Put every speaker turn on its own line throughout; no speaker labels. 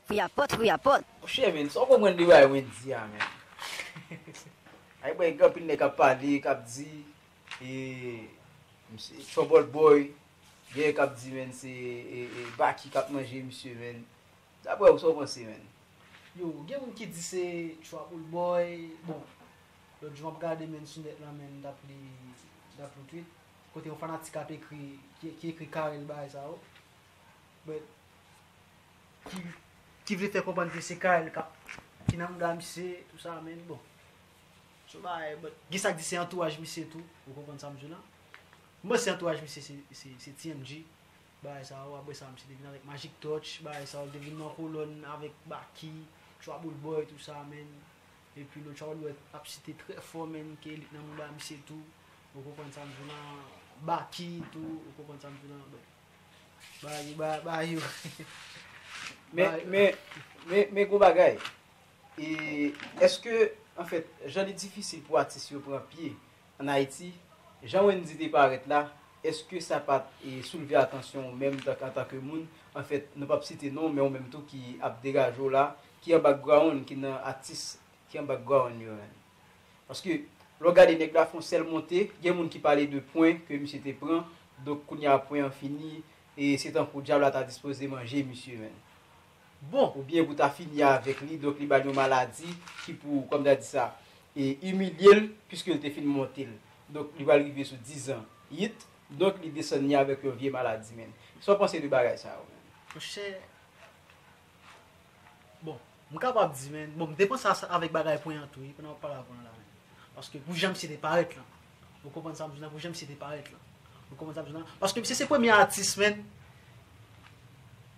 Fouyapòt fouyapòt. Monchè men
sa w konprann de bagay mwen di a menm? Ay bòy gen anpil nèg k ap pale, k ap di e misye trouble boy, gen k ap di menn se Baky k ap manje misye menn. Daprè ou sa w panse menn? Yo, gen
moun ki di se trouble boy, bon lòt jou m ap gade menn sou nèt lan menn m t ap li m t ap li tweet kote yon fanatik ap ekri ki ekri Carel bagay sa yo but ki vle fè konprann ke se Carel kap ki nan mga misye tout sa men bon son bagay but gen sak di se antouraj misye tou ou konprann sam di la m panse antouraj misye se TMG bagay sa yo aprè sa misye te vin avèk Magic Touch bagay sa yo l te vin nan kolòn avèk Baky Trouble Boy tout sa men epi nou Trouble Boy ap site trè fò men ke li t nan mga misye tou ou konprann sam di la Baky tou ou konprann sam di la but. Bayou ba bayou. Men, men,
men, men gon bagay. E, eske, anfèt, jan li difisil pou atis yo pran pye ann Ayiti, jan Wendy te parèt la, eske sa pa t e soulve atansyon ou menm tank antanke moun, anfèt, nou p ap site non w, men ou menm tou ki ap degaje w la, ki an background, ki nan atis ki an background yo menm? Paske lè w gade nèg la fon sèl monte, gen moun ki pale de pwen ke misye te pran, donk kounye a pwen an fini e se tankou dyab la ta dispoze manje misye menn. Bon! Ou byen pou ta fini avèk li, donk li ba l yon maladi ki pou, kòm ta di sa, e imilye l piske l te fin monte l. Donk li pral rive sou dizan it, donk li desann li avèk yon vye maladi menn. Sa w panse de bagay sa yo menm? Monchè,
Bon, m kapab di men, bon m te panse avèk bagay pwen an tou wi pandan wap pale ak pwen an la men. Paske pou jan misye te parèt lan. Ou konprann sa m di w la pou jan misye te parèt lan. Ou konprann sa m di w la. Paske misye se premye atis men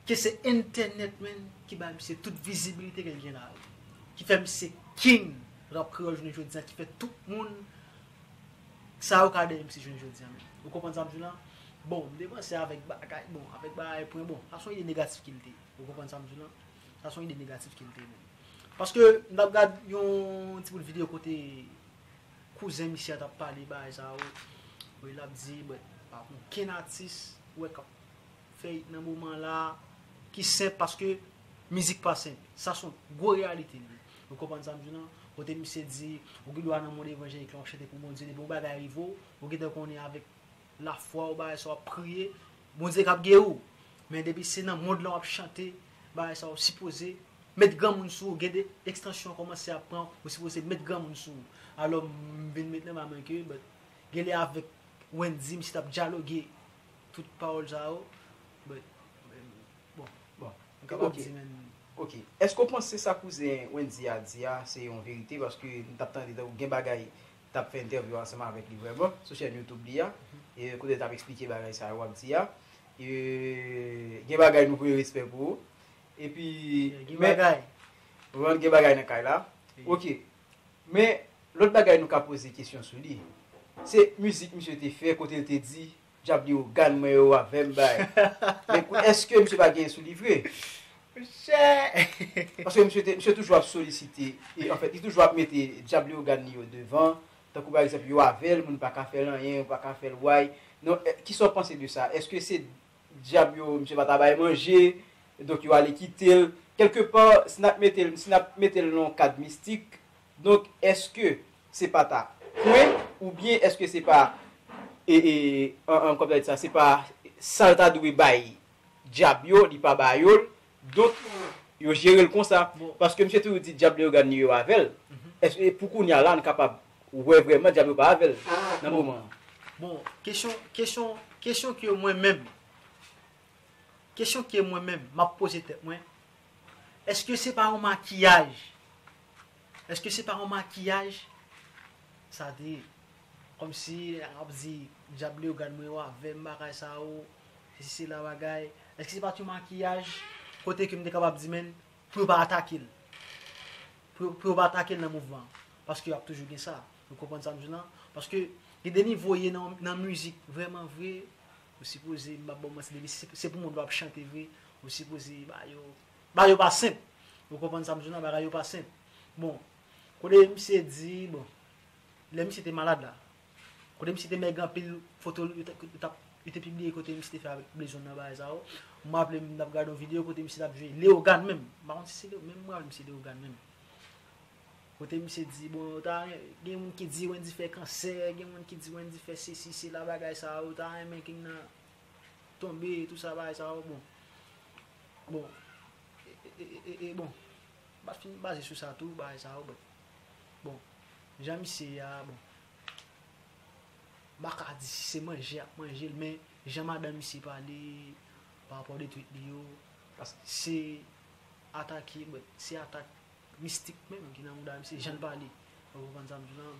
ke se entènèt men ki bay misye tout vizibilite ke l gen la. Ki fè misye king rap kreyòl jounen jodi a ki fè tout moun Sa yo ka de MC jwenn jodi a menm. Ou konprann sa m di w la? Bon, m depanse avèk bagay, bon, avèk bagay pwen bon. Sa son ide negatif ke l te ye. Ou konprann sa m di w la? Sa son ide negatif ke l te ye menm. Paske m t ap gad yon ti bout videyo kote kouzen misye a t ap pale bagay sa yo. L ap di, mwen pa konn okenn atis wè k ap. fè it nan moman la ki senp paske mizik pa senp sa son gwo reyalite li ou konprann sa m di w lan kote misye di ou gen dwa nan mond evanjelik la wap chante pou Bondye depi yon bagay rive w ou gen dwa konnen avèk lafwa w bagay sa wap priye Bondye kap geri w men depi se nan mond lan wap chante bagay sa ou sipoze met granmoun sou ou gen de ekstansyon kòmanse ap pran ou sipoze met granmoun sou ou alò m vin met nan may mwen ke but genlè avèk Wendy misye tap dyaloge Tout pawòl sa yo, but, bon, bon, m ka
pa di menm. Ok, èske w panse sa kouzen Wendy a di a se yon verite paske m t ap tande tankou gen bagay t ap fè entèvyou ansanm avèk li vrèman sou chèn YouTube li a kote l t ap eksplike bagay sa yo w ap di a gen bagay nou vre respè pou ou epi gen bagay
gen
bagay nan kay la ok Men, lòt bagay nou ka poze kesyon sou li, se mizik misye te fè kote l te di, Dyab li ogan mwen yo avè m bay. Men kou èske misye pa genyen sou li vre? Monchè! Paske misye te, misye toujou ap solisite, e anfèt li toujou ap mete dyab li ogan li yo devan, tankou pa egzanp yo avè l, moun pa ka fè l anyen, yo pa ka fè l way. Non, kisa w panse de sa? Èske se Dyab yo, misye pa ta bay manje, donk yo ale kite l. Kèlke pa, si n ap mete l, si n ap mete l nan yon kad mistik, donk èske se pa ta kwe oubyen èske se pa, e, e, an, an, kòman ta di sa, se pa sa l ta dwe bay Dyab yo, li pa ba yo l, Donk yo jerel konsa paske misye toujou di dyab Leyogàn li yo avèl eske pou kounya la nou kapab wè vrèman dyab yo pa avèl nan moman an. Bon kesyon
kesyon kesyon ke mwen menm kesyon ke mwen menm map poze tèt mwen eske se pa yon makiyaj Eske se pa yon makiyaj sa te ye? Kòmsi ap di dyab li yo gad mwen yo avèm bagay sa yo sesi sela bagay eske se pat yon makiyaj kote ke m te kapab di menn pou yo pa atake l pou yo pa atake l nan mouvman an paske ap toujou gen sa ou konprann sa m di w la paske gen de nivo ye nan mizik vrèman vre ou sipoze m pap ba w manti depi se pou moun wap chante vre ou sipoze ba yo Bagay yo pa senp. Ou konprann sa m di w nan bagay yo pa senp. Bon, kote misye di, bon, lè misye te malad la, kote misye te mèg anpil, foto l, yo te pibliye kote misye te fè avèk Blezon nan bagay sa yo. M raple m, m t ap gade yon videyo kote misye t ap jwe Leyogan menm. M pa konn si se Leyogan, men m raple m se Leyogan menm. Kote misye di, bon, yo ta renmen, gen moun ki di Wendyy fè kansè, gen moun ki di Wendyy fè sesi sela bagay sa yo, yo ta renmen King nan tonbe tou sa bagay sa yo bon bon e bon map fin baze sou sa tou bagay sa yo bon bon jan misye ye a bon mpa ka di si se manje yap manjel men jan madanm misye pale pa rapò de twit li yo paske se atake se atak mistik menm ki nan mouda misye janl pale ou konprann sam di lan.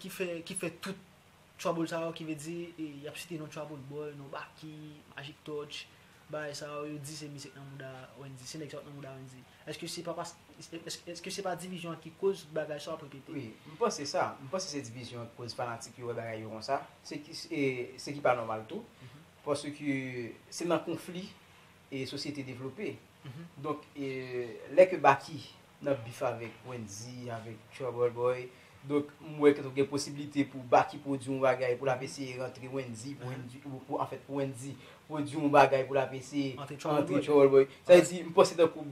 ki fè tout trouble sa yo ki vle di yap site non trouble boy, non baky, magic touch bagay sa yo yo di se misye k nan mouda Wendy se nèg sa yo k nan mouda Wendy eske se pa paske eske se pa divizyon an ki koz bagay sa yo ap repete? Wi m panse sa
m panse se divizyon an ki koz fanatik yo wè bagay yo konsa se ki pa nòmal tou paske se nan konfli sosyete devlope donk lè ke baky nan bif avèk wendy avèk trouble boy donk m wè ke gen posibilite pou baky pwodwi yon bagay pou lap eseye rantre wendy pou wendy pou anfèt pou wendy pwodwi yon bagay pou lap eseye antre trouble boy sa vle di m panse tankou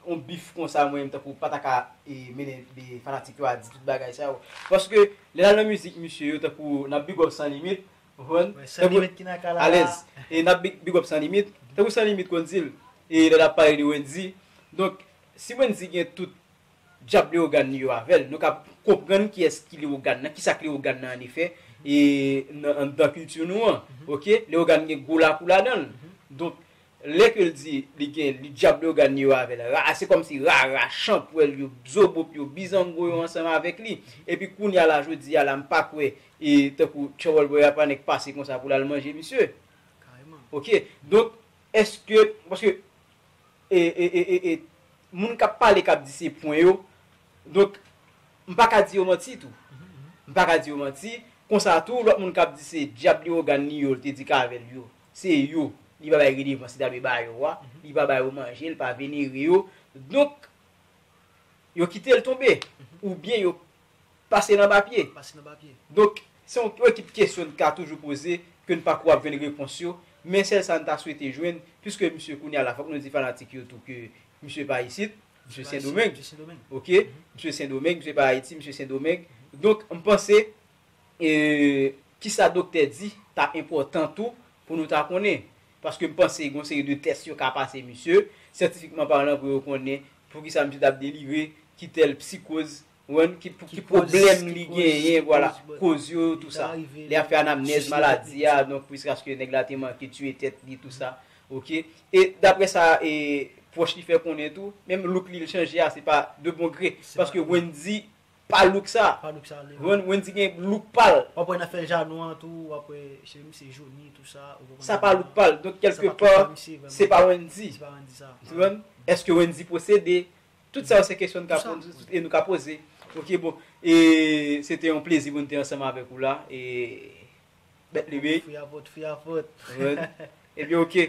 yon bif konsa mwen menm tankou pa ta ka mennen de fanatik yo a di tout bagay sa yo paske lè nap nan mizik misye yo tankou nap big up san limit ou
konprann tankou alèz e nap
big up san limit tankou san limit konn di l e lè lap pale de wendy donk Si Wendy gen tout djab Leogane li yo avè l, nou kab konprann kiyès ki Leogane nan, kisa k Leogane nan annefè anndan kilti nou an. Ok, Leogane gen gwo lakou ladan l. Donk, lè ke l di li gen li djab Leogane li yo avè l, ra, se kòmsi rara, chanpwèl yo, bzobop yo, bizango yo ansanm avèk li. Epi kounye a la, jodi a la, m pa kwè e tankou Tchòwòl Bwè Yapanè k pase konsa pou l al manje misye. Ok,
donk,
èske, paske e e moun kap pale kap di se pwen yo donk m paka di yo manti tou m paka di yo manti konsa tou lòt moun kap di se dyab li ogan li yo l te di k avèl yo se yo li pa bay redevans li ta dwe ba yo a li pa ba yo manje l pa venere yo donk yo kite l tonbe oubyen yo Pase nan papye. Donk, se yon ekip kesyon n ka toujou poze, ke n pa ko ap jwenn repons yo, men sèl sa n ta swete jwenn, piske misye kounye a la fòk nou di fanatik yo tou ke misye pa isit, misye Sendomeng. Ok, misye Sendomeng, misye pa Ayiti, misye Sendomeng. Donk, m panse, kisa doktè di ta enpòtan tou pou nou ta konnen. Paske m panse gen yon seri de tès yo ka pase misye, syantifikman palan pou yo konnen Poukisa misye tap delire kitel psikoz ou konprann ki pwoblèm li genyen vwala koz yo tou sa li ap fè anamnèz maladi a donk jiskaske nèg la te manke tiye tèt li tou sa ok e daprè sa e pwòch li fè konnen tou menm look li chanje a se pa de bon gre paske Wendy Pa look sa. Pa look sa li menm. Wendy gen look pal. Wap wè nan fèl janou
an tou wap wè cheve misye joni tout sa. Sa pa look pal. Donk kelke
pa se pa Wendy. Se pa Wendy sa. Ou konprann?
Eske
Wendy posede? Tout sa yo se kesyon nou ka poze e nou ka poze. Ok bon. E se te yon plezi pou nou te ansanm avèk ou la. E bèt li wi. Free Apot, Free Apot. Ou
konprann? E byen
ok.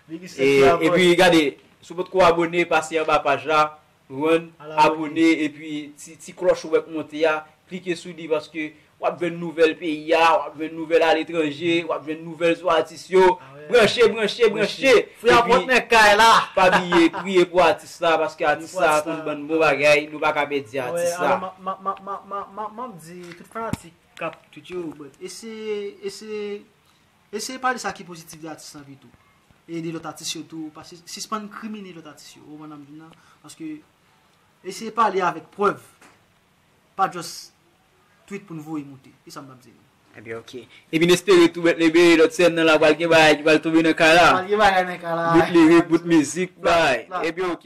Big respect Free Apot. E pi gade, si w potko abone pase anba paj la. Run abone epi ti klòch ou wè k monte a klike sou li paske wap jwenn nouvèl peyi a wap jwenn nouvèl aletranje wap jwenn nouvèl sou atis yo branche branche branche
epi pa bliye priye
pou atis la paske atis sa konn bann bon bagay nou paka pèdi atis la. Map
di tout fanatik kap tout yo eseye eseye Eseye pale sa ki pozitif de atis lan pito. Ede lòt atis yo tou, pa sispann krimine lòt atis yo, ou konprann sa m di nan, paske eseye pale avèk prèv, pa just tweet pou n voye moute, e sa m t ap di nou. Ebyen ok.
Epi n espere tou Bèt Lebèe, lòt sèn nan la pral gen bagay ki pral tonbe nan kay la. Pral gen bagay nan kay la. Bout lirik, bout
mizik,
bagay. Ebyen ok.